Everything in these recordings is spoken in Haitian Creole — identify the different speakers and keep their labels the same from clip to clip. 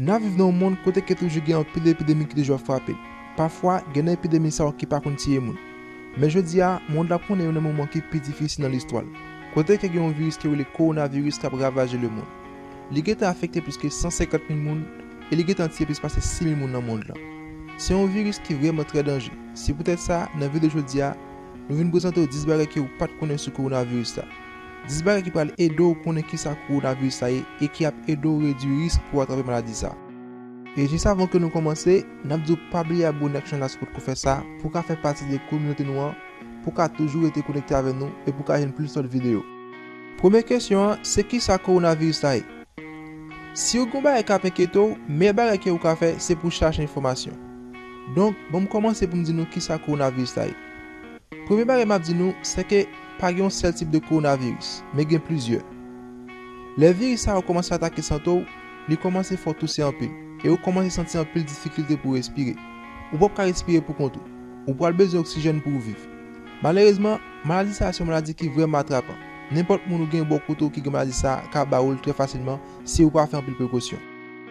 Speaker 1: Nap viv nan yon mond kote ke toujou gen anpil epidemi ki toujou ap frape. Pafwa, gen nan epidemi sa yo ki pa konn tiye moun. Men jodi a, mond la ap konnen youn nan moman ki pi difisil nan listwa l, kote ke gen yon viris ki rele Kowonaviris kap ravaje lemond. Li gentan afekte plis ke 150 mil moun, e li gentan tiye plis pase 6 mil moun nan mond lan. Se yon viris ki vrèman trè danje. Se poutèt sa, nan videyo jodi a, nou vin prezante w 10 bagay ke ou pat konnen sou kowonaviris la. 10 bagay ki pral ede w konnen kisa kowonaviris la ye e ki ap ede w redwi risk pou w atrape maladi sa. E jis avan ke nou kòmanse, n ap di w pa bliye abone ak chanèl la si w potko fè sa pou w ka fè pati de kominote nou an, pou w ka toujou rete konekte avè nou e pou w ka jwenn plis lòt videyo. Premye kesyon an, se kisa kowonaviris la ye? Siw gon bagay kap enkyete w, meyè bagay ke ou ka fè se pou chache enfòmasyon. Donk banm kòmanse poum di nou kisa kowonaviris la ye. Premye bagay map di nou se ke pa gen yon sèl tip de kowonaviris, men gen plizyè. Lè viris sa yo kòmanse atake sante w, li kòmanse fè w touse anpil, e ou kòmanse santi anpil difikilte pou respire. Ou pap ka respire pou kont ou. Ou pral bezwen oksijèn pouw viv. Malerezman, Maladi sa a se yon maladi ki vrèman atrapan. Nenpòt moun ou gen bò kote w ki gen maladi sa a ka ba ou l trè fasilman si ou pa fè anpil prekosyon.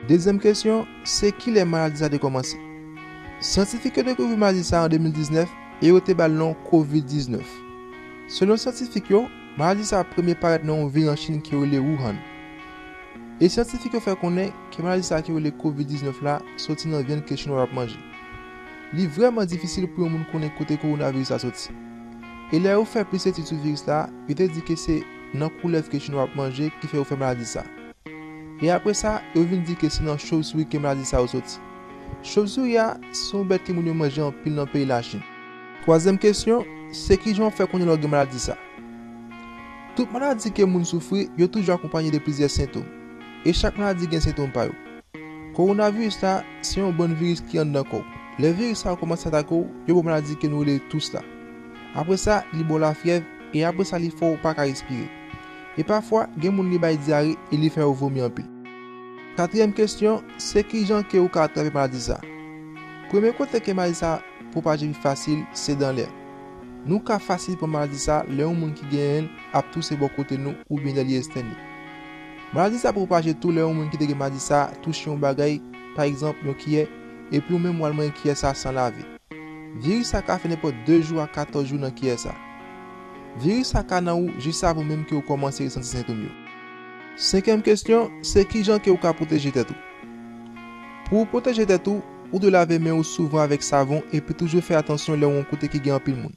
Speaker 1: Dezyèm kesyon, se kilè maladi sa a te kòmanse? Syantifik yo dekouvri maladi sa a an 2019 e yo te ba l non Covid 19. Selon syantifik yo, maladi sa a premye parèt nan yon vil nan Chin ki rele Wuhan. E syantifik yo fè konnen ke maladi sa a ki rele Covid 19 la soti nan vyann ke Chinwa yo ap manje. Li vrèman difisil pou yon moun konnen kote kowonaviris la soti. E lè yo fè plis etid sou viris la, yo te di ke se nan koulèv ke chinwa ap manje ki fè yo fè maladi sa. E apre sa, yo vin di ke se nan chovsuri ke maladi sa yo soti. Chovsuri a, se yon bèt ke moun yo manje anpil nan peyi Lachin. Twazyèm kesyon, se kijan ou fè konnen lè ou gen maladi sa? Tout maladi ke moun soufri, yo toujou akonpanye de plizyè sentom. E chak maladi gen sentom pa yo. Kowonaviris la se yon bann viris ki anndan kò w. Lè viris sa yo kòmanse atake w, yo ba w maladi ke nou rele tous la. Apre sa, li ba w lafyèv e apre sa li fè w pa ka respire. E pafwa, gen moun li bay dyare e li fè yo vomi anpil. Katriyèm kesyon, se kijan ke ou ka atrape maladi sa? Premye kote ke maladi sa pwopaje pi fasil, se dan lè. Nou ka fasil pran maladi sa lè yon moun ki genyen l ap touse bò kote nou oubyen lè li estène. Maladi sa pwopaje tou lè yon moun ki te gen maladi sa touche yon bagay, pa egzanp, yon kiyè, epi ou menm w al manyen kiyè sa san lave. Viris sa ka fè nenpòt 2 jou a 14 jou nan kiyè sa. Viris sa ka nan ou jis avan menm ke ou kòmanse resanti sentom yo. Senkyèm kesyon, se kijan ke ou ka pwoteje tèt ou? Pou ou pwoteje tèt ou, ou dwe lave men ou souvan avèk savon epi toujou fè atansyon lè ou yon kote ki gen anpil moun.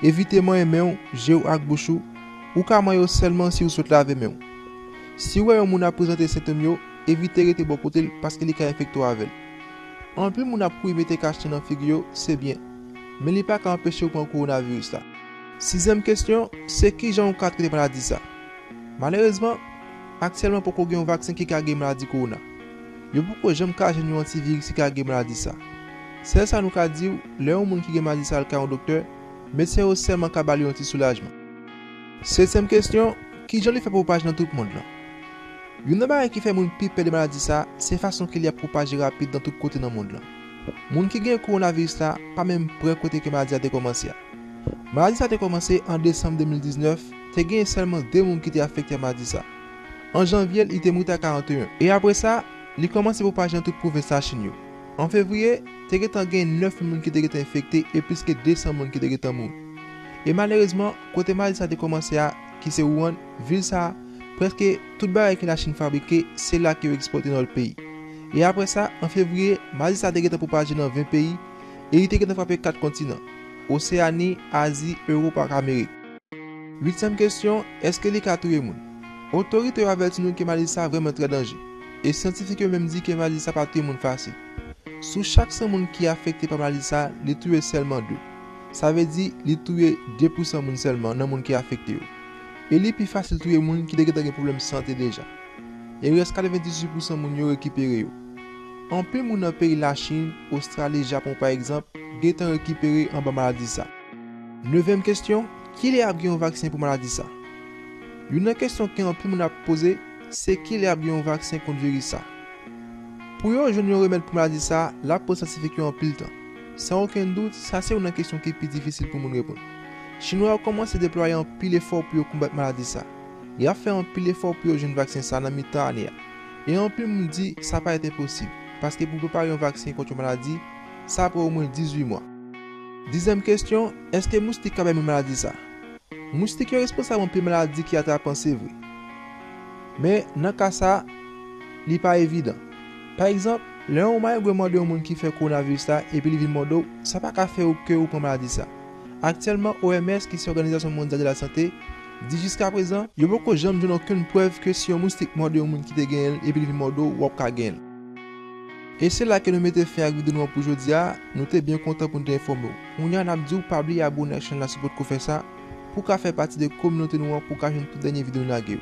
Speaker 1: Evite manyen men ou, je ou ak bouch ou, ou ka manyen yo sèlman si ou sot lave men ou. Si ou wè yon moun ap prezante sentom yo, evite rete bò kote l paske li ka enfekte w avè l. Anpil moun ap kouri mete kachnen nan figi yo, se byen. Men li pa ka anpeche ou pran kowonaviris la. Sizyèm kesyon, se kijan ou ka trete maladi sa? Malerezman, aktyèlman poko gen yon vaksen ki ka geri maladi kowona. Yo poko janm ka jwenn yon antiviris ki ka geri maladi sa. Sèl sa nou ka di ou, lè yon moun ki gen maladi sa al kay yon doktè, medsen yo sèlman ka ba li yon ti soulajman. Setyèm kesyon, Ki jan li fè pwopaj nan tout mond lan? Youn nan bagay ki fè moun pi pè de maladi sa a, se fason ke li ap pwopaje rapid nan tout kote nan mond lan. Moun ki gen kowonaviris la pa menm pre kote ke maladi a te kòmanse a. Maladi sa a te kòmanse an desanm 2019, te genyen sèlman 2 moun ki te afekte a maladi sa a. An janvye li te moute a 41. E apre sa, li kòmanse pwopaje nan tout pwovens Lachin yo. An fevriye, te gentan gen 9 mil moun ki te gentan enfekte e plis ke 200 moun ki te gentan mouri. E malerezman, Kote maladi sa te kòmanse a, ki se Wuhan, vil sa, prèske tout bagay ke Lachin fabrike, se la ke yo ekspòte nan lòt peyi. E apre sa, an fevriye, maladi sa te gentan pwopaje nan 20 peyi, e li te gentan frape 4 kontinan, Oseyani, Azi, Ewop ak Amerik. Uityèm kesyon, Èske li ka touye moun? Otorite yo avèti nou ke maladi sa vrèman trè danje, e syantifik yo menm di ke maladi sa pa touye moun fasil. Sou chak 100 moun ki afekte pa maladi sa, li touye sèlman 2. Sa vle di li touye 2 pousan moun sèlman nan moun ki afekte yo. E li pi fasil touye moun ki te gentan gen pwoblèm sante deja. E rès 98 pousan moun yo rekipere yo. Anpil moun nan peyi Lachin, Ostrali, Japon pa egzanp, gentan rekipere anba maladi sa. Nevyèm kesyon, kilè ap gen yon vaksen pou maladi sa? Youn nan kesyon ke anpil moun ap poze, se kilè ap gen yon vaksen kont viris sa? Pou yo jwenn yon remèd pou maladi sa, l ap pran syantifik yo anpil tan. San okenn dout, sa se youn nan kesyon ki pi difisil pou moun reponn. Chinwa yo kòmanse deplwaye anpil efò pou yo konbat maladi sa. Y ap fè anpil efò pou yo jwenn vaksen sa nan mitan ane a. E anpil moun di sa pa etenposib, paske pou prepare yon vaksen kont yon maladi, sa pran omwen 18 mwa. Dezyèm kesyon, èske moustik ka bay moun maladi sa? Moustik yo responsab anpil maladi ki atrapan se vre. Men, nan ka sa, li pa evidan. Pa egzanp, lè yon mayigwe mande yon moun ki fè kowonaviris la epi li vin mòde w, sa pa ka fè ou ke ou pran maladi sa. Aktyèlman, OMS, ki se Òganizasyon Mondyal de la Sante, di jiskaprezan, yo poko janm jwenn okenn prèv ke si yon moustik mòde yon moun ki te genyen l epi li vin mòde w, w ap ka genyen l. E se la ke nou mete fen ak videyo nou an pou jodi a, nou te byen kontan pou nou te enfòme w. Kounye a n ap di w pa bliye abone ak chèn la si w potko fè sa, pou w ka fè pati de kominote nou an pou w ka jwenn tout dènye videyo nou lage yo.